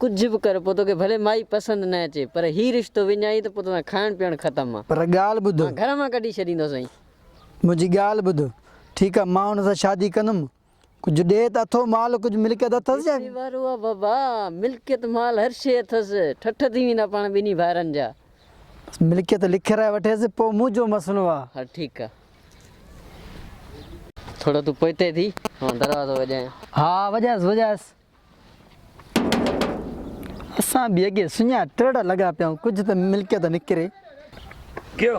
ڪجهه به ڪر پوء توکي ڀلي مائي پسند نه اچي پر هي رشتو وڃائين ته پوء توسان کائڻ پيئڻ ختم آ. پر ڳالهه ٻڌ. مان گهر مان ڪڍي ڇڏيندو سائين. منهنجي ڳالهه ٻڌ. ٺيڪ آ مان هن سان شادي ڪندم. ڪجهه ڏي ته اٿو مال ڪجهه ملڪيت اٿس ڇا؟ ڪٿي وارو آ بابا. ملڪيت مال هر شيء اٿس. ٺٺ ٿي ويندا پاڻ ٻنهي ڀائرن جا. بس ملڪيت لکرائي وٺيس پوء منهنجو مسئلو آ. هل ٺيڪ آ. ٿورو تون پوئتي ٿي مان دروازو وڄايان. ها ها وڄائس وڄائس. اسان به اڳي سڃا ٽرڙ لڳا پيا آهيون ڪجهه ته ملڪيت نڪري. ڪيو.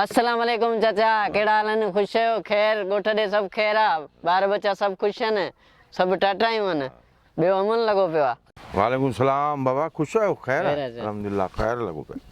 السلام عليڪم چچا ڪهڙا حال آهن خوش آهيو خير ڳوٺ ڏي سڀ خير آ ٻار ٻچا سڀ خوش آهن سڀ ٽاٽايون آهن ٻيو امن لڳو پيو آ. وعليڪم السلام بابا خوش آهيو خير آ الحمدلله خير لڳو پيو آ.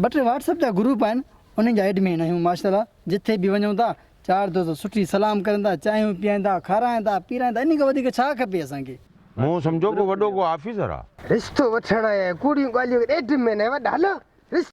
ٻه ٽي واٽس اپ جا گروپ آهن انهن جا ايڊمين آهيون ماشاءالله جٿي به وڃون ٿا چار دوست سٺي سلام ڪرين ٿا چانهيون پيئن ٿا کارائين ٿا پيرائين ٿا انهي کان وڌيڪ ڇا کپي اسان کي. مون سمجهو ڪو وڏو ڪو آفيسر آ. رشتو وٺڻ ۽ ڪوڙيون ڳالهيون ڪرڻ ايڊ مين ۽ وڏا هلو رشتو.